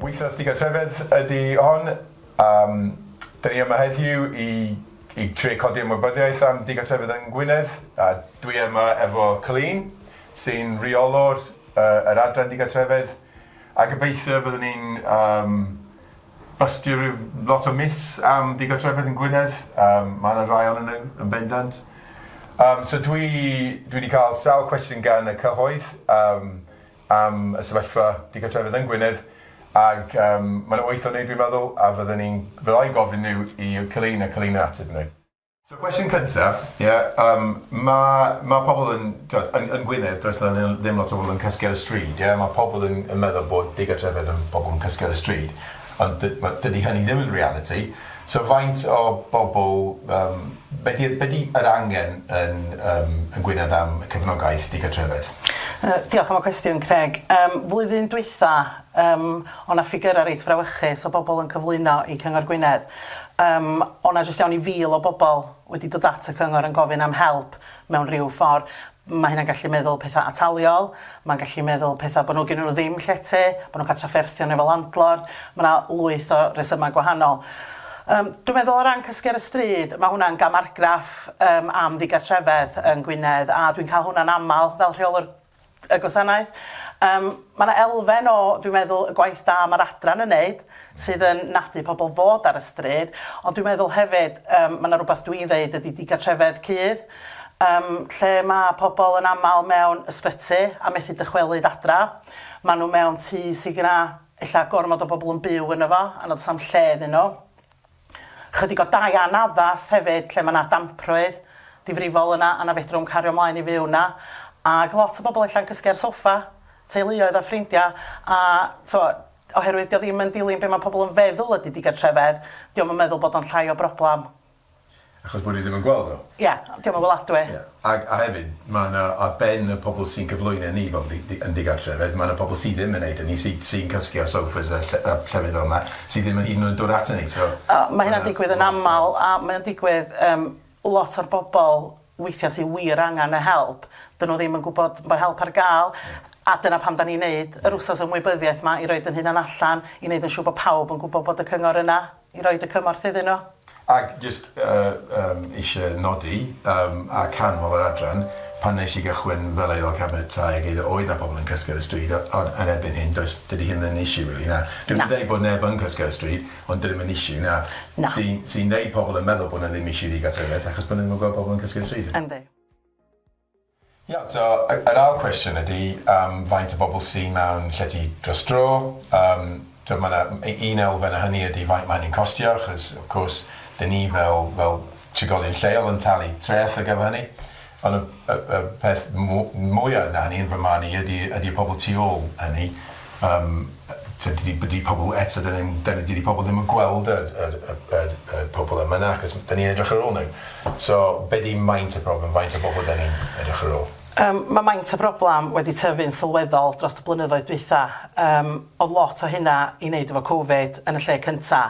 Wythnos digartrefedd ydy hon. Um, Dyn ni yma heddiw i, i tre codi ymwybyddiaeth am digartrefedd yng Ngwynedd. A dwi yma efo Colleen, sy'n rheolwr uh, yr adran digartrefedd. A gobeithio fyddwn ni'n um, Bastir yw lot o myths am ddigartrefedd yn Gwynedd, yym mae yna rai ohonyn nhw yn bendant. Yym so dwi dwi wedi cael sawl cwestiwn gan y cyhoedd yym am y sefyllfa digartrefedd yn Gwynedd ac yym mae yna wyth o nhw dwi'n meddwl a fydden i'n fydda i'n gofyn nhw i Keleina, Keleina ateb nhw. So cwestiwn cynta, ie, yym ma' ma' pobl yn t'od yn yn Gwynedd does 'na li- ddim lot o bobl yn cysgu ar y stryd ie ma' pobl yn yn meddwl bod digartrefedd yn pobl yn cysgu ar y stryd ond dy- ma' dydi hynny ddim yn realiti so faint o bobl yym be' di'r be' di yr angen yn yym yn Gwynedd am y cefnogaeth digartrefedd? Yy diolch am y cwestiwn Craig. Yym flwyddyn dwetha yym o' 'na ffigyra reit frawychus o bobl yn cyflwyno i Cyngor Gwynedd Yym, o' 'na jyst iawn i fil o bobl wedi dod at y cyngor yn gofyn am help mewn rhyw ffor'. Ma' hynna'n gallu meddwl petha' ataliol, ma'n gallu meddwl petha' bo' nw gennyn nw ddim llety, bo' nw'n ca'l trafferthion efo landlord, ma' 'na lwyth o resyma' gwahanol. Yym, dwi meddwl o ran cysgu ar y stryd, ma' hwnna'n gam argraff yym am ddigartrefedd yn Gwynedd, a dwi'n ca'l hwnna'n amal fel rheolwr y gwasanaeth. Yym, ma' 'na elfen o, dwi'n meddwl, y gwaith da ma'r adran yn neud, sydd yn nadu pobl fod ar y stryd, ond dwi'n meddwl hefyd, yym, ma' 'na rwbath dwi'n ddeud ydi digartrefedd cudd, yym, lle ma' pobl yn amal mewn ysbyty a methu dychwelyd adra, ma' nhw mewn tŷ sy' gyna ella gormod o bobl yn byw yno fo a nad o's 'na'm lle iddyn nhw. Chydig o dai anaddas hefyd lle ma' 'na damprwydd difrifol yna a na fedrwn cario mlaen i fyw 'na ag lot o bobol ella'n cysgu ar soffa, teuluoedd a ffrindia a t'mo' oherwydd 'di o ddim yn dilyn be' ma' pobol yn feddwl ydi digartrefedd 'di o'm yn meddwl bod o'n llai o broblam Achos bod ni ddim yn gweld nhw. Ia, 'di o'm yn weladwy. Ia, a a hefyd ma' 'na ar ben y pobl sy'n cyflwyno ni fel di- di- yn digartrefedd ma' 'na pobl sy ddim yn neud hynny sy sy'n cysgu ar sofas a ll- a llefydd fel 'na sy ddim yn hyd yn oed dod aton ni so... O ma' hynna'n digwydd yn amal a mae o'n digwydd yym lot o'r bobl weithia' sy wir angan y help 'dyn nhw ddim yn gwbod bo' help ar ga'l a dyna pam 'dan ni'n neud yr wsos ymwybyddiaeth 'ma i roid 'yn hunan allan i neud yn siŵr bo' pawb yn gwbo bod y cyngor yna. i roid y cymorth iddyn nhw. Ac jyst yym eisiau nodi yym a canmol yr adran, pan wnes i gychwyn fel Aelod Cabinet Tai ag eiddo oedd 'na pobl yn cysgu ar y stryd o- ond yn erbyn hyn does dydi hyn ddim yn issue rili na? Na. Dwi'm yn deud bod neb yn cysgu ar y stryd ond dydi o ddim yn issue na? Na. Sy'n sy'n neud pobl yn meddwl bod 'na ddim issue ddigartrefedd achos bo' nw ddim yn gweld pobl yn cysgu ar y stryd. Yndi. Iawn, so yr ail cwestiwn ydi yym faint o bobl sy mewn llety dros dro, yym t'od ma' 'na u- un elfen o hynny ydi faint ma' hynny'n costio achos of course 'dyn ni fel fel trigolion lleol yn talu treth ar gyfer hynny on' y y y peth mw- mwya na hynny yn fy marn i ydi ydi y pobol tu ôl hynny. Yym t'od dydi dydi pobol eto 'dyn ni'm 'dyn ni dydi pobol ddim yn gweld yr yr y yr y pobol yma na achos m- 'dyn ni'n edrych ar ôl nw. So be' 'di maint y problem faint o bobol 'dyn ni'n edrych ar ôl? Yym ma' maint y broblam wedi tyfu'n sylweddol drost y blynyddoedd dwytha, yym odd lot o hynna i neud efo covid yn y lle cynta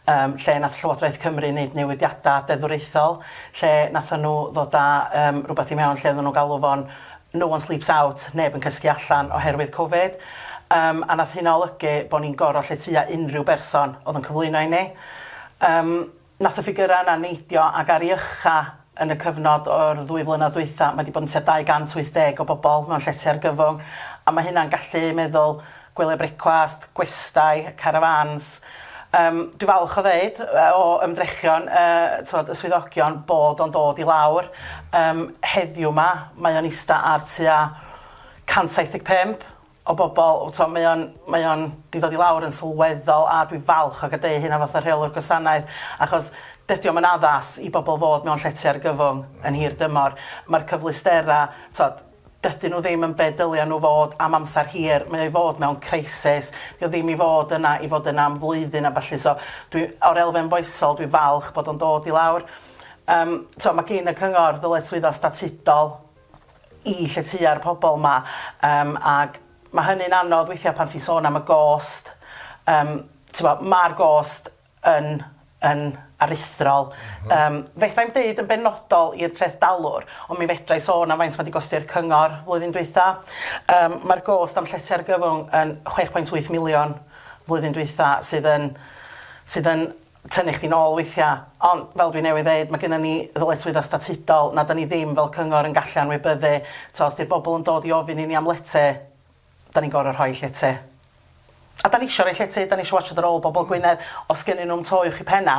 yym lle nath Llywodraeth Cymru neud newidiada deddfwriaethol lle natho nw ddod â yym rwbeth i mewn lle oddan nw'n galw fo'n no one sleeps out, neb yn cysgu allan oherwydd Covid, yym a nath hynna olygu bo' ni'n goro lle tua unrhyw berson o'dd yn cyflwyno i ni. Yym nath y ffigyra yna neidio ag ar i ucha yn y cyfnod o'r ddwy flynadd ddwytha ma' 'di bod yn tua 280 o bobol mewn llety argyfwng a ma' hynna'n gallu meddwl gwyliau brecwast, gwestai, carafáns. Yym, dwi'n falch o ddeud, o ymdrechion y, t'mod, y swyddogion, bod o'n dod i lawr. Yym, heddiw 'ma, mae o'n ista ar tua 175 o bobl. T'mo', mae o'n, mae o'n 'di dod i lawr yn sylweddol, a dwi'n falch o gadeu hynna fatha rheolwr gwasanaeth, achos dydi o'm yn addas i bobl fod mewn llety argyfwng yn hir dymor. Ma'r cyfleusterau, t'mod, Dydyn nhw ddim yn be dylia nhw fod am amser hir, mae o i fod mewn crisis, dio ddim i fod yna i fod yna am flwyddyn a ballu, so dwi, o'r elfen foesol dwi'n falch bod o'n dod i lawr. Yym t'o' ma' gin y cyngor ddyletswyddo statudol i lletyua'r pobol 'ma yym ag ma' hynny'n anodd weithia' pan ti'n sôn am y gost, yym t'bo' ma'r gost yn yn aruthrol. Yym, fedai'm deud yn benodol i'r treth dalwr, ond mi fedrai sôn am faint mae 'di gosti i'r cyngor flwyddyn dwytha. Yym, mae'r gost am llety argyfwng yn chwech pwynt wyth miliwn flwyddyn dwytha, sydd yn sydd yn tynnu chdi'n ôl weithia'. Ond fel dwi newydd ddeud, mae gynnon ni ddyletswydda statudol na 'dan ni ddim fel cyngor yn gallu anwybyddu. T'o' os 'di'r bobol yn dod i ofyn i ni am lety, 'Da ni'n gor'o' rhoi lle te. A 'da ni isio roi lle te, 'da ni isio watsiad ar ôl bobol Gwynedd, os gennyn nhw'm to uwch 'u penna',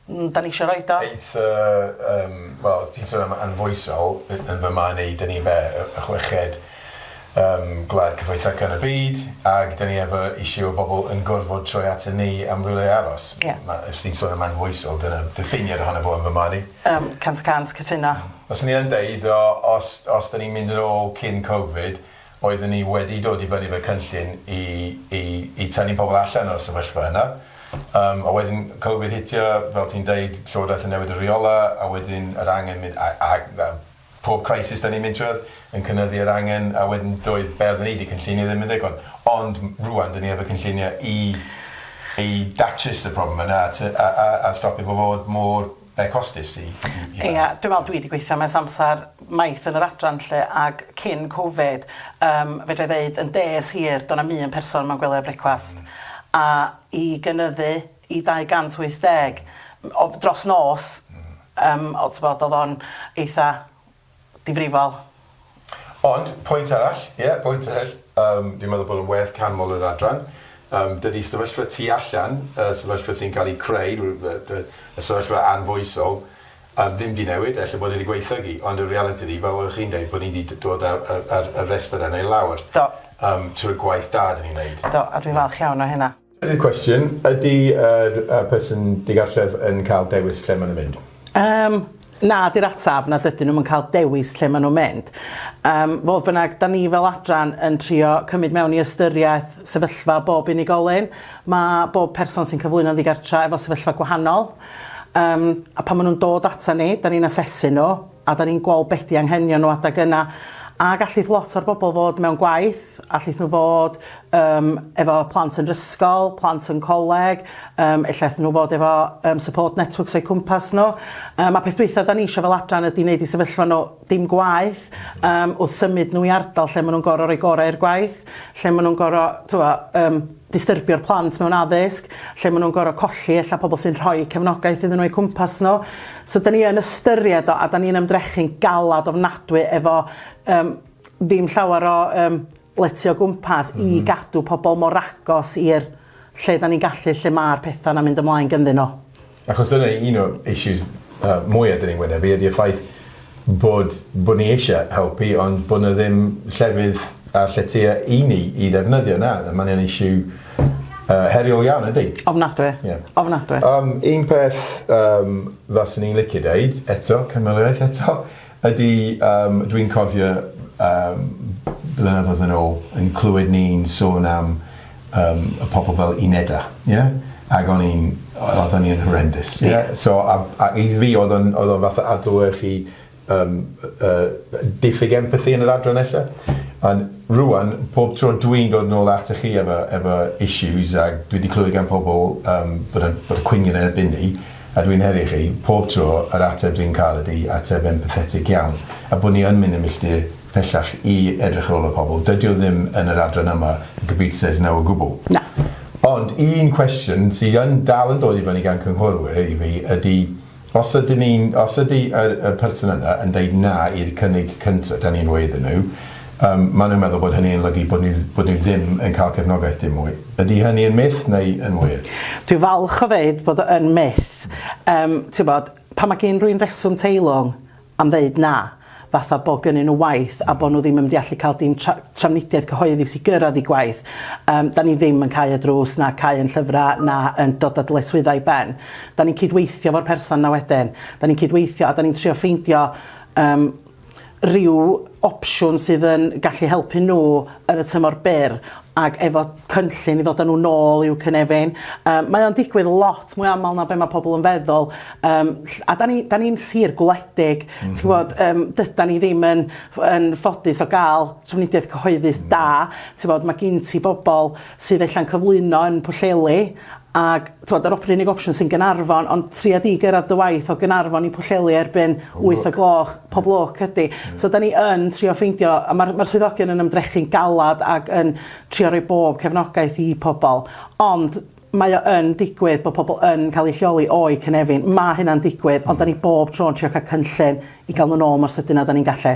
mm, 'da ni isio roid o. Aeth y, yym, wel, ti'n sôn am anfoesol, yn yn fy marn i, 'da ni be', y y chweched, yym, gwlad cyfoethoca yn y byd, ag 'da ni efo issue o bobol yn gorfod troi aton ni am rywle i aros. Ie. Ma', os ti'n sôn am anfoesol, dyna diffiniad ohono fo yn fy marn i. Yym, cant y cant cytuno. Fyswn i yn deud, o, os os 'da ni'n mynd yn ôl cyn Covid, Oeddwn i wedi dod i fyny efo cynllun i i i tynnu pobl allan o'r sefyllfa yna, yym a wedyn Covid hitio, fel ti'n deud, Llywodraeth yn newid y rheolau, a wedyn yr angen mynd a a a pob crisis 'dan ni'n mynd trwyadd yn cynyddu yr angen, a wedyn doedd be' oedden ni 'di cynllunio ddim yn ddigon. Ond m- rŵan 'dan ni efo cynllunio i i datrys y problem yna a ty- a a a stopio fo fod mor Be costus i i fe? Ia dwi me'wl dwi 'di gweithio mewn samsar maith yn yr adran 'lly ag cyn covid yym fedrai ddeud yn des hir do' 'na'm un person mewn gwely a brecwast a i gynyddu i dau gant wyth deg m- o- dros nos yym o t'bod o'dd o'n eitha difrifol. Ond, pwynt arall, ie, pwynt arall, yym, dwi'n meddwl bod o'n werth canmol yr adran. Yym, dydy sefyllfa tu allan, y sefyllfa sy'n cael ei creu, y sefyllfa anfoesol, yym, ddim 'di newid, ella bod e 'di gwaethygu, ond y realiti ydi, fel oeddech chi'n deud, bod ni 'di d- dod â y yr y rhestr yna i lawr... Do. ...yym, trwy gwaith da 'dan ni'n neud. Do, a dwi'n falch iawn o hynna. Trydydd cwestiwn, ydy yr person digartref yn cael dewis lle maen nhw'n mynd? Yym, na 'di'r ateb, na dydyn nhw'm yn cael dewis lle maen nhw'n mynd. Yym, fodd bynnag, 'da ni fel adran yn trio cymryd mewn i ystyriaeth sefyllfa bob unigolyn. Ma' bob person sy'n cyflwyno'n ddigartra efo sefyllfa gwahanol, yym, a pan maen nhw'n dod ata ni, 'da ni'n asesu nhw, a 'dan ni'n gweld be' 'di anghenion nhw adeg yna, a gallith lot o'r bobl fod mewn gwaith, allith nhw fod yym efo plant yn 'r ysgol, plant yn coleg, yym ella 'thyn nhw fod efo yym support networks o'u cwmpas nhw, yym a peth dwytha 'dan ni isio fel adran ydi neud i sefyllfa nhw dim gwaeth yym wrth symud nhw i ardal lle ma' nhw'n gor'o' roi gore' i'r gwaith, lle ma' nhw'n gor'o' t'mo' yym distyrbio'r plant mewn addysg, lle maen nhw'n gorfod colli ella pobl sy'n rhoi cefnogaeth iddyn nhw o'u cwmpas nhw. So 'dan ni yn ystyried o a 'dan ni'n ymdrechu'n galad ofnadwy efo yym ddim llawer o yym lety o gwmpas i gadw pobl mor agos i'r lle 'dan ni'n gallu lle ma'r petha 'na'n mynd ymlaen ganddyn nhw. Achos dyna un o issues yy mwya 'dyn ni'n wynebu ydi y ffaith bod bod ni eisie helpu ond bo' 'na ddim llefydd a lletya i ni i ddefnyddio na a ma'n yn issue yy heriol iawn yndi? Ofnadwy. Ie. Ofnadwy. Yym un peth yym faswn i'n licio deud eto cynwaliaeth eto Ydy, yym, dwi'n cofio, yym, blynyddoedd yn ôl, yn clywed ni'n sôn am, yym, y pobl fel unedau, ie? Ac o'n i'n... o- oedden ni yn horrendous, ie? Ie. So, a a i fi, oedd o'n oedd o'n fatha adlewyrchu, yym, y y diffyg empathi yn yr adran ella. Ond rŵan, pob tro dwi'n dod nôl atoch chi efo efo issues, a dwi 'di clywed gan pobl, yym, bod y bod y cwyn yn erbyn ni, A dwi'n heddi chi, pob tro, yr ateb dwi'n cael ydi ateb empathetig iawn, a bod ni yn mynd yn milltir pellach i edrych ar ôl y pobl. Dydi o ddim yn yr adran yma, y Computer says no o gwbl. Na. Ond un cwestiwn sydd yn dal yn dod i fyny gan cynghorwyr i fi ydi, os ydyn ni'n, os ydi y y person yna yn deud na i'r cynnig cynta 'dan ni'n roi iddyn nhw, Yym, maen nhw'n meddwl bod hynny yn olygu bod ni, bod ni ddim yn cael cefnogaeth dim mwy. Ydy hynny yn myth neu yn wir? Dwi'n falch o ddeud bod o yn myth. Yym, tibod, pan mae gyn rywun reswm teilwng am ddeud na, fatha bod gynnyn nhw waith a bod nhw ddim yn mynd i allu cael dim tra- trafnidiaeth cyhoeddus i gyrraedd eu gwaith, yym, dan ni ddim yn cau y drws na cau ein llyfrau na yn dod â dyletswyddau i ben. Dan ni'n cydweithio efo'r person 'na wedyn. Dan ni'n cydweithio a dan ni'n trio ffeindio, yym, ryw opsiwn sydd yn gallu helpu nhw yn y tymor byr ac efo cynllun i ddod a nhw nôl i'w cynefin. Yym mae o'n digwydd lot mwy aml na be' ma' pobl yn feddwl yym ll- a 'dan ni 'dan ni'n sir gwledig ti'n gwbod yym dydan ni ddim yn ff- yn ffodus o ga'l trafnidiaeth cyhoeddus da t'bod ma' gin ti bobol sydd ella'n cyflwyno yn Pwllheli Ac, t'mod, yr op- 'r unig opsiwn sy'n Gaernarfon, ond tria di gyrradd dy waith o Gaernarfon i Pwllheli erbyn wyth o gloch, pob lwc, ydi. So 'dan ni yn trio ffeindio, a ma'r ma'r swyddogion yn ymdrechu'n galad ag yn trio roi bob cefnogaeth i pobol, ond mae o yn digwydd bo' pobol yn ca'l eu lleoli o'u cynefin, ma' hynna'n digwydd, ond 'dan ni bob tro'n trio ca'l cynllun i ga'l nw nôl mor sydyn â 'dan ni'n gallu.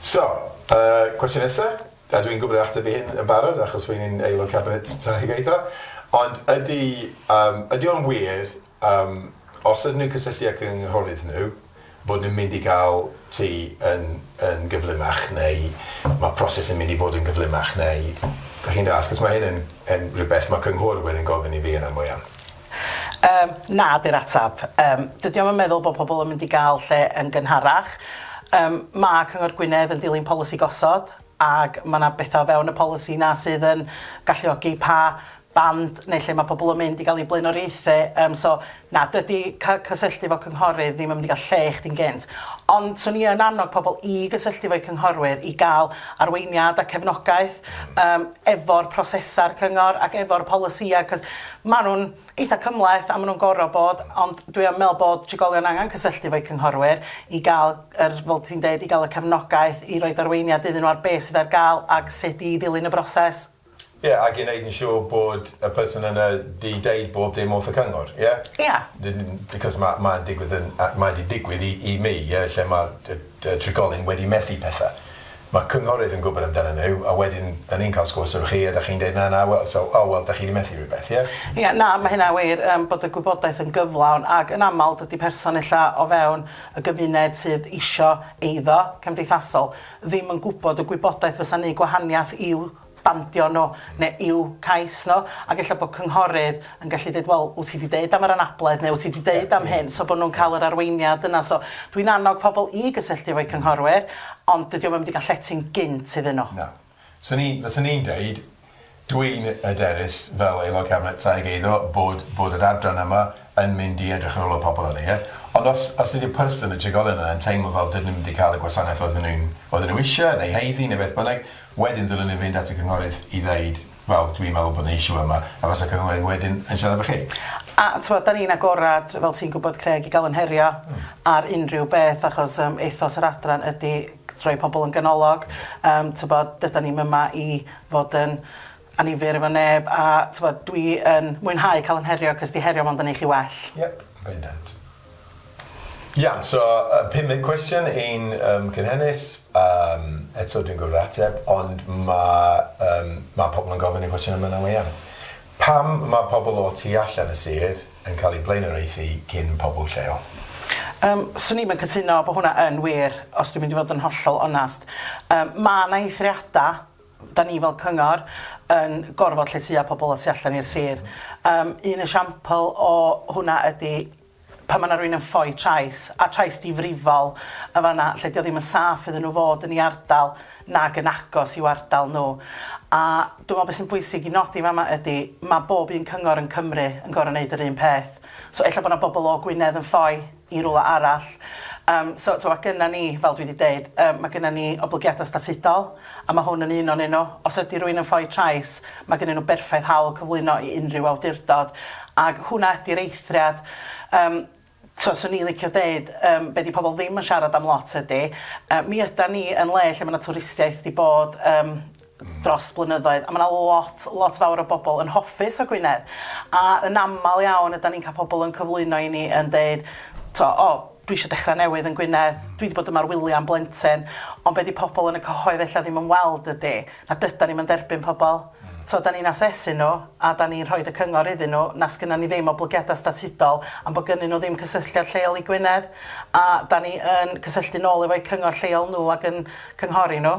So, y cwestiwn nesa, a dwi'n gwybod yr ateb i hyn yn barod achos rwy'n un Aelod Cabinet Tai ac Eiddo, ond ydy yym ydy o'n wir yym os ydyn nhw'n cysylltu â cynghorydd nhw bod nhw'n mynd i gael tŷ yn yn gyflymach neu ma' proses yn mynd i fod yn gyflymach neu dach chi'n dallt achos ma' hyn yn yn rywbeth ma' cynghorwyr yn gofyn i fi yn aml iawn. Yym, na 'di'r ateb. Yym, dydi o'm yn meddwl bod pobl yn mynd i gael lle yn gynharach. Yym, ma' Cyngor Gwynedd yn dilyn polisi gosod, ac ma' 'na betha o fewn y polisi 'na sydd yn galluogi pa band neu lle ma' pobl yn mynd i gael eu blaenoriaethu, yym so na, dydi ca- cysylltu efo cynghorydd ddim yn mynd i gael lle i chdi'n gynt. Ond 'swn i yn annog pobl i gysylltu efo'u cynghorwyr i gael arweiniad a cefnogaeth yym efo'r prosesau'r cyngor ac efo'r polisïau, 'c'os Maen nhw'n eitha' cymhleth a maen nhw'n gorfod bod, ond dwi yn meddwl bod trigolion angen cysylltu efo'u cynghorwyr i gael yr, fel ti'n deud, i gael y cefnogaeth i roid arweiniad iddyn nhw ar be' sydd ar gael ac sut i ddilyn y broses. Ie, ac i wneud yn siŵr bod y person yna 'di deud bob dim wrth y cyngor, ie? Ie. N- n- because ma' ma'n digwydd yn a- mae 'di digwydd i i mi, ie, lle ma'r t- t- trigolyn wedi methu pethe. Mae cynghorydd yn gwybod amdanyn nhw a wedyn dan ni'n cael sgwrs efo chi a dach chi'n deud na na wel so o wel dach chi di methu rhywbeth ie? Ie, na, mae hynna'n wir yym bod y gwybodaeth yn gyflawn ac yn aml dydi person ella o fewn y gymuned sydd isio eiddo cymdeithasol ddim yn gwybod y gwybodaeth fysa'n neud gwahaniath i'w bandio nhw, neu i'w cais nhw, ac ella bod cynghorydd yn gallu deud, wel, wyt ti 'di deud am yr anabledd, neu wyt ti 'di deud am hyn, so bod nhw'n cael yr arweiniad yna. So, dwi'n annog pobl i gysylltu efo'u cynghorwyr, ond dydi o'm yn mynd i gael llety'n gynt iddyn nhw. Na. 'Swn i'n, fyswn i'n deud, dwi'n hyderus fel Aelod Cabinet Taig Eiddo bod bod yr adran yma yn mynd i edrych ar ôl y pobl yna, ie? Ond os, os ydy'r person, y trigolyn yna, yn teimlo fel dydyn nhw ddim wedi cael y gwasanaeth oedden nhw'n, oedden nhw eisiau, neu haeddu, neu beth bynnag, wedyn ddylen nhw fynd at y cynghorydd i ddeud, wel, dwi'n meddwl bod 'na issue yma, a fasa cynghorydd wedyn yn siarad efo chi. A, t'mod, 'dan ni'n agored, fel ti'n gwybod, Craig, i gael yn herio ar unrhyw beth, achos yym ethos yr adran ydy rhoi pobl yn ganolog, yym, t'mod, dydan ni'm yma i fod yn annifyr efo neb a t'mod dwi yn mwynhau ca'l 'yn herio 'c'os 'di herio mond yn neu' chi well. Yep bendant. Iawn so yy pum munud cwestiwn i'n yym cynhennus yym eto dwi'n gorfod ateb ond ma' yym ma' pobol yn gofyn y cwestiwn yma nawr iawn. Pam ma' pobol o tu allan y sir yn ca'l eu blaenoriaethu cyn pobol lleol? Yym swn i'm yn cytuno bo hwnna yn wir os dwi'n mynd i fod yn hollol onast. Yym ma' 'na eithriada 'da ni fel cyngor yn gorfod lletya pobl y tu allan i'r sir. Yym un esiampl o hwnna ydi pan ma' 'na rywun yn ffoi trais, a trais difrifol yn fan 'na lle 'di o ddim yn saff iddyn nhw fod yn 'u ardal nag yn agos i'w ardal nhw. A dwi me'wl be' sy'n bwysig i nodi fan 'ma ydi ma' bob un cyngor yn Cymru yn gor'o' neud yr un peth. So ella bo' 'na bobl o Gwynedd yn ffoi i rywle arall. Yym, so, t'mo', ma' gynna ni, fel dwi 'di deud, yy ma' gynna ni oblygiada statudol, a ma' hwn yn un o'nyn nhw. Os ydi rywun yn ffoi trais, ma' gynnyn nhw berffaith hawl cyflwyno i unrhyw awdurdod, ag hwnna ydi'r eithriad. Yym, t'mo', swn i'n licio deud, yym, be' 'di pobl ddim yn siarad am lot ydi, yy, mi ydan ni yn le lle ma' 'na twristiaeth 'di bod, yym, dros blynyddoedd a ma' 'na lot lot fawr o bobl yn hoffus o Gwynedd a yn amal iawn ydan ni'n ca'l pobl yn cyflwyno i ni yn deud t'o' o dwi isio dechra newydd yn Gwynedd dwi 'di bod yma ar wylia am blentyn ond be' 'di pobl yn y cyhoedd ella ddim yn weld ydi na dydan ni'm yn derbyn pobl t'o' 'dan ni'n asesu n'w a 'dan ni'n rhoid y cyngor iddyn n'w na sgynnon ni ddim oblygiada statudol am bo' gynnyn n'w ddim cysylltiad lleol i Gwynedd a 'dan ni yn cysylltu nôl efo'u cyngor lleol n'w ag yn cynghori n'w.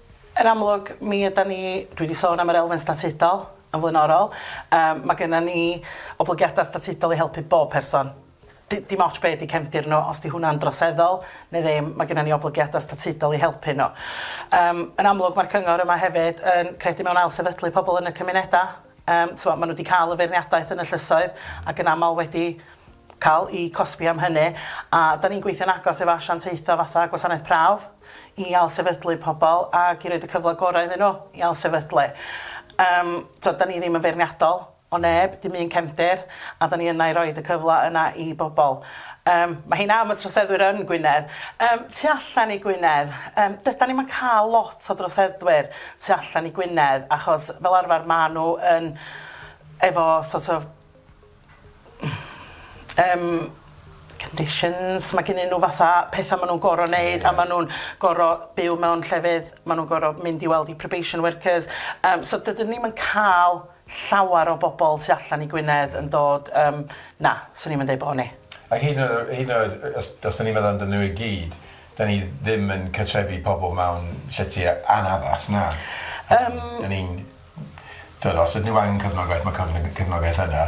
Yn amlwg, mi ydan ni, dwi 'di sôn am yr elfen statudol yn flaenorol, yym ma' gynnon ni oblygiada statudol i helpu bob person. D- dim ots be' 'di cefndir nw, os 'di hwnna'n droseddol ne' ddim, ma' gynnon ni oblygiada statudol i helpu nw. Yym yn amlwg ma'r cyngor yma hefyd yn credu mewn ailsefydlu pobol yn y cymuneda, yym t'mo' ma' nw 'di ca'l y feirniadaeth yn y llysoedd ac yn amal wedi ca'l 'u cosbi am hynny, a 'dan ni'n gweithio'n agos efo asiantaetha fatha Gwasanaeth Prawf, i ailsefydlu pobl ac i roid y cyfle gorau iddyn nhw i ailsefydlu. Yym, tibod, dan ni ddim yn feirniadol o neb, dim un cefndir, a dan ni yna i roid y cyfle yna i bobl. Yym, mae hyn am y troseddwyr yn Gwynedd. Yym, tu allan i Gwynedd, yym, dydan ni'm yn cael lot o droseddwyr tu allan i Gwynedd, achos fel arfer maen nhw yn efo sort of yym conditions ma' gynnyn n'w fatha petha ma' nw'n goro neud a ma' nw'n goro byw mewn llefydd ma' nw'n goro mynd i weld i probation workers yym so dydyn ni'm yn ca'l llawar o bobol tu allan i Gwynedd yn dod yym na swn i'm yn deud bo' ni. A hyd yn oed yy hyd yn oed yy os os 'dyn ni'n meddwl amdanyn n'w i gyd 'dyn ni ddim yn cartrefi pobol mewn llety a- anaddas na. Yym. 'Dyn ni'n T'wod os ydyn nhw angen cefnogaeth ma' cyfn- yy cefnogaeth yna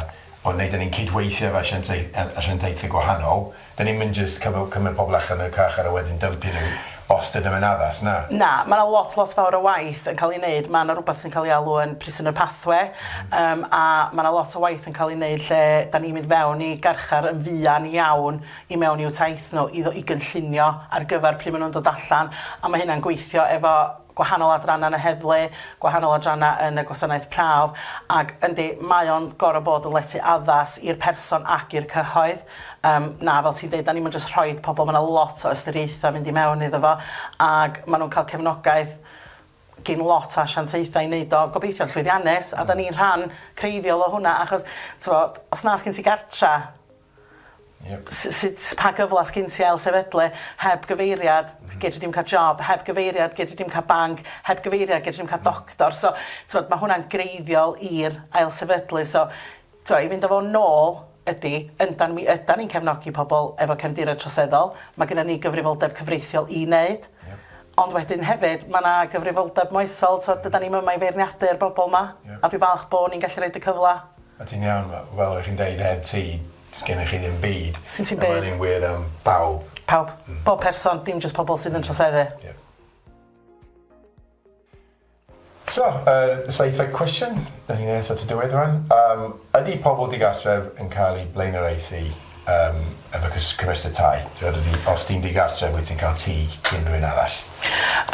ond neu' 'dyn ni'n cydweithio efo asiantei- yy asiantaethe gwahanol, 'dyn ni'm yn jyst cyfy- cymryd pobol allan y carchar a wedyn dympio nhw os dydyn nhw'n addas, na. Na, ma' 'na lot lot fawr o waith yn ca'l 'i neud, ma' 'na rwbath sy'n ca'l 'i alw yn prisoner pathway yym a ma' 'na lot o waith yn ca'l 'i neud lle 'dan ni'n mynd fewn i garchar yn fuan iawn i mewn i'w taith nhw i ddo- i gynllunio ar gyfar pry' ma' nhw'n dod allan a ma' hynna'n gweithio efo gwahanol adrannau yn y heddlu, gwahanol adrannau yn y gwasanaeth prawf, ac yndi, mae o'n gorfod bod yn lety addas i'r person ac i'r cyhoedd. Yym, na, fel ti'n deud, 'dan ni'm yn jyst rhoid pobl, ma' 'na lot o ystyriaethau mynd i mewn iddo fo, ac ma' nhw'n cael cefnogaeth gin lot o asiantaethau i wneud o, gobeithio'n llwyddiannus, a 'dan ni'n rhan creiddiol o hwnna, achos, t'mod, os na sgin ti gartre, Yep. S- sut pa gyfla sgin ti ail sefydlu heb gyfeiriad gedri dim ca'l job heb gyfeiriad gedri dim ca'l banc heb gyfeiriad gedri dim ca'l doctor so t'mod ma' hwnna'n greiddiol i'r ail sefydlu so t'o' i fynd â fo nôl ydi yndan mi ydan ni'n cefnogi pobol efo cefndiroedd troseddol ma' gynnon ni gyfrifoldeb cyfreithiol i neud ond wedyn hefyd ma' 'na gyfrifoldeb moesol t'od dydan ni'm yma i feirniadu'r bobol 'ma a dwi falch bo' ni'n gallu roid y cyfla O ti'n iawn ma- fel o' chi'n deud heb ti sgennych chi ddim byd. Sgin ti'm byd. A ma' ynny'n wir am bawb. Pawb. Hmm. Bob person dim jyst pobol sydd yn troseddu. Ie. So yr seithfed cwestiwn 'dan ni nes at y diwedd rŵan yym ydi pobol digartref yn ca'l eu blaenoriaethu yym efo cys- cymesur tai t'wod ydi os ti'n digartref wyt ti'n ca'l tŷ cyn rywun arall?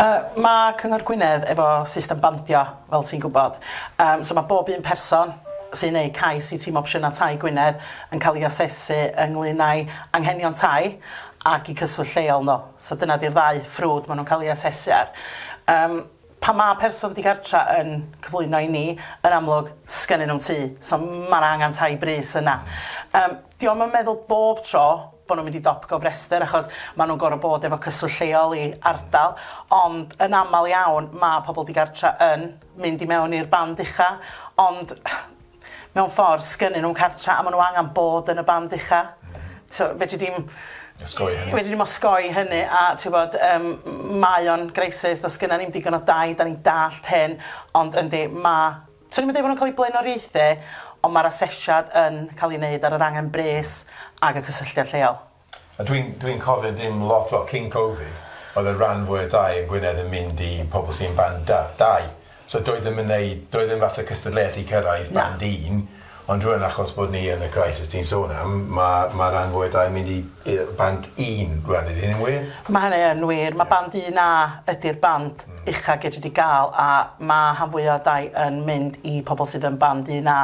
Yy ma' Cyngor Gwynedd efo system bandio fel ti'n gwybod. Yym, so mae bob un person sy'n wneud cais i Tîm Opsiynau Tai Gwynedd yn cael ei asesu ynglŷn â'i anghenion tai ac i cyswllt lleol nhw. So dyna 'di'r ddau ffrwd maen nhw'n cael ei asesu ar. Yym, pan mae person digartra' yn cyflwyno i ni, yn amlwg, 'sgennyn nhw'm tŷ, so ma' 'na angen tai brys yna. Yym. Dio'm yn meddwl bob tro bo' nhw'n mynd i dop gofrestr achos ma' nhw'n gor'o' bod efo cyswllt lleol i ardal, ond yn amal iawn ma' pobol digartra yn mynd i mewn i'r band ucha', ond mewn ffor sgynnyn nhw'm cartra a ma' nhw angan bod yn y band ucha'. T'o' fedri di'm... Osgoi hynny. ...fedri di'm osgoi hynny a t'wbod yym m- mae o'n greisys do's gynna ni'm digon o dai 'dan ni'n dallt hyn ond yndi ma' Swn i'm yn deud bod nhw'n cael eu blaenoriaethu, ond mae'r asesiad yn cael ei wneud ar yr angen bres ac y cysylltiad lleol. A dwi'n dwi'n cofio dim lot wel cyn Covid oedd y ran fwy o dai yn Gwynedd yn mynd i pobl sy'n band da- dau so doedd ddim yn neud doedd ddim fath o cystadleuaeth i cyrraedd band un. Ond rŵan achos bod ni yn y crisis ti'n sôn am, ma' ma' ran fwy o dai mynd i yy band un rŵan ydi hynny'n wir? Ma' hynny yn wir ma' band un A ydi'r band ucha gei di ga'l a ma' rhan fwya o dai yn mynd i pobol sydd yn band un A.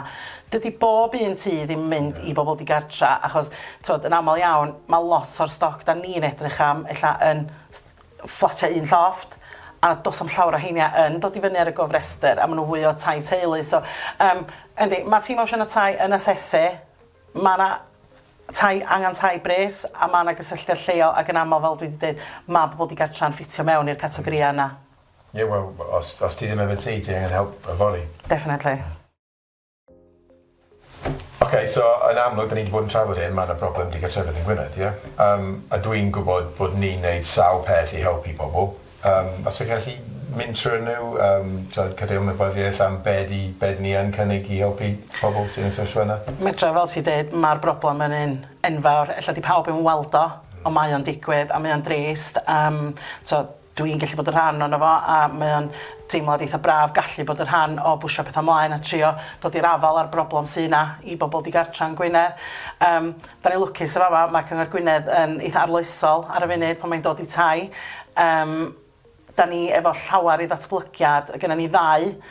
Dydi bob un tŷ ddim mynd i bobol digartra achos t'od yn amal iawn ma' lot o'r stoc 'dan ni'n edrych am ella yn fflatiau un llofft, a does na'm llawer o heina yn dod i fyny ar y gofrestr, a maen nhw fwy o tai teulu. So, um, yndi, mae tîm opsiwn y tai yn asesu, mae yna tai, angen tai bres, a mae yna gysylltiad lleol, ac yn aml, fel dwi wedi dweud, mae pobl digartra'n ffitio mewn i'r categorïau yna. Ie, wel, os, os ti ddim efo tŷ, ti angen help yfory. Definitely. Oce so yn amlwg 'dyn ni 'di bod yn trafod hyn ma' 'na problem digartrefedd yn Gwynedd ie? Yym a dwi'n gwbod bod ni'n neud sawl peth i helpu pobol yym os ti'n gallu mynd trw'r nw yym t'od cadw ymwybyddiaeth am be' 'di be' 'dyn ni yn cynnig i helpu pobol sy yn y sefyllfa yna? Medra fel ti deud ma'r broblem yn un enfawr ella 'di pawb 'im yn weld o on' mae o'n digwydd a mae o'n drist yym t'o' Dw i'n gallu bod yn rhan ohono fo a mae o'n deimlad eitha braf gallu bod yn rhan o bwsio pethau mlaen a trio dod i'r afael â'r broblem sy' 'na i bobl digartra yn Gwynedd. Yym, 'dan ni'n lwcus yn fama, mae Cyngor Gwynedd yn eitha arloesol ar y funud pan mae'n dod i tai. Yym, 'dan ni efo llawer i ddatblygiad, gynnon ni ddau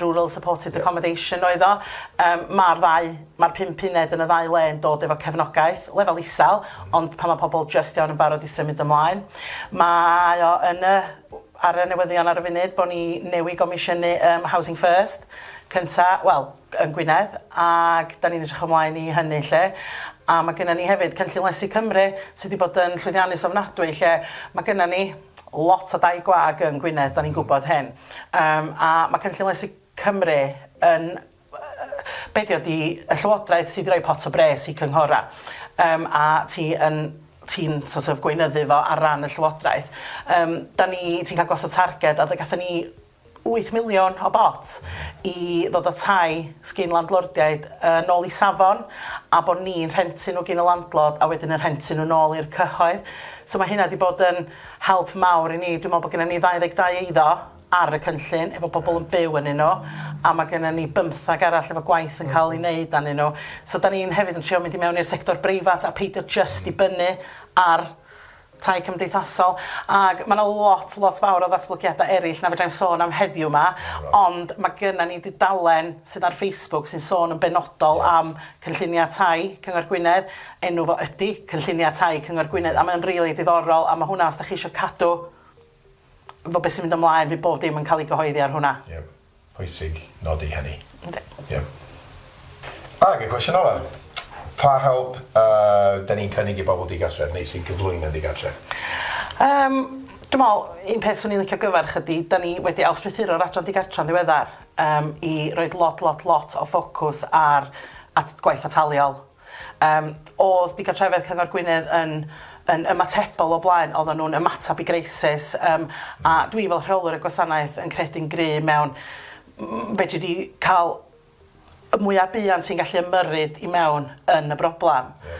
Rural Supported Accommodation oedd o. Yym ma'r ddau... Ma'r pump uned yn y ddau le yn dod efo cefnogaeth, lefel isel, ond pan ma' pobl jyst iawn yn barod i symud ymlaen. Mae o yn y... Ar y newyddion ar y funud bo' ni newy' gomisiynu yym Housing First cynta', wel, yn Gwynedd, ag 'dan ni'n edrych ymlaen i hynny 'lly. A ma' gynnon ni hefyd Cynllun Lesu Cymru sy 'di bod yn llwyddiannus ofnadwy lle ma' gynnon ni lot o dai gwag yn Gwynedd, da ni'n gwybod hyn, um, a mae Cynllun Lesu Cymru yn be dio di y llywodraeth sydd wedi rhoi pot o bres i cynghora um, a ti yn ti'n sort of gweinyddu fo ar ran y llywodraeth. Um, da ni, ti'n cael gosod targed a da gatho ni wyth miliwn o bot i ddod â tai sgin landlordiaid yn ôl i safon a bod ni'n rhentu nhw gin y landlord a wedyn yn rhentu nhw'n ôl i'r cyhoedd. So mae hynna 'di bod yn help mawr i ni. Dwi'n meddwl bod gennym ni 22 eiddo ar y cynllun efo pobl yn byw ynnyn nhw a mae gennym ni bymtheg arall efo gwaith yn cael ei wneud arnyn nhw. So dan ni'n hefyd yn trio mynd i mewn i'r sector breifat a peidio jyst dibynnu ar tai cymdeithasol, ag ma' 'na lot, lot fawr o ddatblygiadau eraill na fedrai'm sôn am heddiw 'ma, ond ma' gynna ni dudalen sydd ar Facebook sy'n sôn yn benodol am cynlluniau tai Cyngor Gwynedd, enw fo ydi Cynlluniau Tai Cyngor Gwynedd, a mae o'n rili diddorol, a ma' hwnna os 'dach chi isio cadw 'fo be' sy'n mynd ymlaen, fydd bob dim yn cael ei gyhoeddi ar hwnna. Ie. Pwysig nodi hynny. Yndi. Ie. Ag y cwestiwn ola'. Pa help yy 'dan ni'n cynnig i bobol digartref neu sy'n cyflwyno digartref? Yym dwi me'wl un peth swn i'n licio gyfarch ydi 'dan ni wedi ailstrythuro'r adran digartra'n ddiweddar yym i roid lot lot lot o ffocws ar at gwaith ataliol Yym, o'dd digartrefedd Cyngor Gwynedd yn yn ymatebol o blaen, oddan nhw'n ymatab i greisis, yym, a dwi fel rheolwr y gwasanaeth yn credu'n gry' mewn m- fedri di ca'l y mwya buan ti'n gallu ymyrryd i mewn yn y broblam. Ie.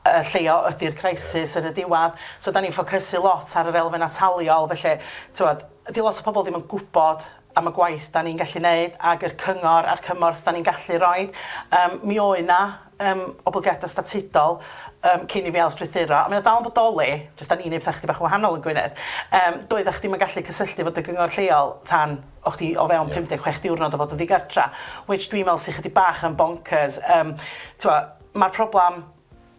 Y lleia ydi'r crisis... Ie. ...yn y diwadd, so 'dan ni'n ffocysu lot ar yr elfen ataliol, felly t'mod, 'di lot o pobol ddim yn gwbod am y gwaith da ni'n gallu neud ag yr cyngor a'r cymorth da ni'n gallu roid yym mi oe' 'na yym oblygiada statudol yym cyn i fi ail strwythuro a mae o dal yn bodoli jyst da ni'n neud petha chydig bach yn wahanol yn Gwynedd yym doedda chdi'm yn gallu cysylltu efo dy gyngor lleol tan o' chdi o fewn pum deg chwech diwrnod o fod yn ddigartra which dwi'n me'wl sy chydig bach yn boncyrs yym t'mo' ma'r problam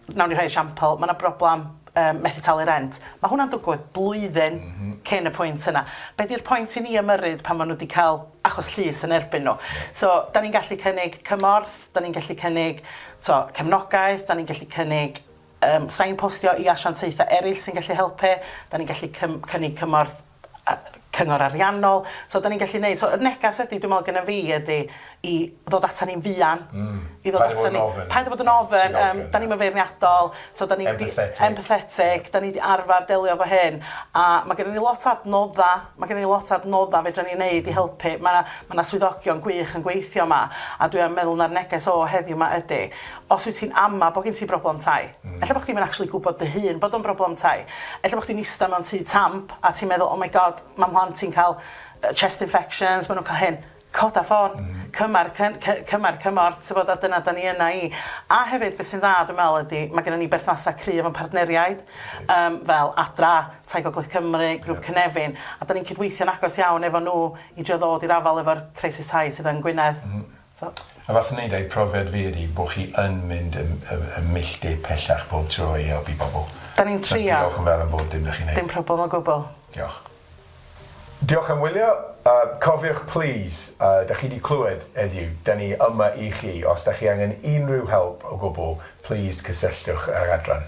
Wnawn ni rhoi esiampl, ma' 'na broblem yym methu talu rent. Ma' hwnna'n dwgwydd blwyddyn cyn y pwynt yna. Be' 'di'r pwynt i ni ymyrryd pan ma' nhw 'di ca'l achos llys yn erbyn nhw? So, 'dan ni'n gallu cynnig cymorth, 'dan ni'n gallu cynnig, t'o', cefnogaeth, 'dan ni'n gallu cynnig yym signpostio i asiantaethau eryll sy'n gallu helpu, 'dan ni'n gallu cym- cynnig cymorth cyngor ariannol so 'dan ni'n gallu neud so y negas ydi dwi me'wl gynna fi ydi i ddod atan ni'n fuan. Hmm. I ddod atan ni. Paid a bod yn ofyn. Paid a bod yn ofyn yym 'dan ni'm yn feirniadol so 'dan ni 'di... Empathetic. Empathetic 'dan ni 'di arfar delio efo hyn a ma' gynnon ni lot o adnodda ma' gynnon ni lot o adnodda fedran ni neud i helpu ma' 'na ma' 'na swyddogion gwych yn gweithio 'ma a dwi am meddwl ma'r neges o heddiw 'ma ydi Os wyt ti'n ama bod gen ti broblem tai, ella bod chdi ddim yn actually gwybod dy hun bod o'n broblem tai. Ella bod chdi'n ista mewn tŷ tamp a ti'n meddwl 'oh my God, mae mhlant i'n cael yy chest infections, maen nhw'n cael hyn'. Coda ffôn, cymar cy- cy- cymar cymorth tibod a dyna 'dan ni yna i. A hefyd be' sy'n dda dwi'n meddwl ydi ma' gynnon ni berthnasau cry efo'n partneriaid yym fel Adra, Tai Gogledd Cymru, Grŵp Cynefin a 'dan ni'n cydweithio'n agos iawn efo nhw i drio ddod i'r afael efo'r crisis tai sydd yn Gwynedd. A fath wneud eu profiad fi ydi bo chi yn mynd y y y milltir pellach bob tro i helpu pobl. Da ni'n trio. So diolch yn fawr am bob dim da chi'n neud. Dim problem o gwbl. Diolch. Diolch am wylio. A cofiwch plîs, a da chi di clywed heddiw, da ni yma i chi. Os da chi angen unrhyw help o gwbl, plîs cysylltwch â'r adran.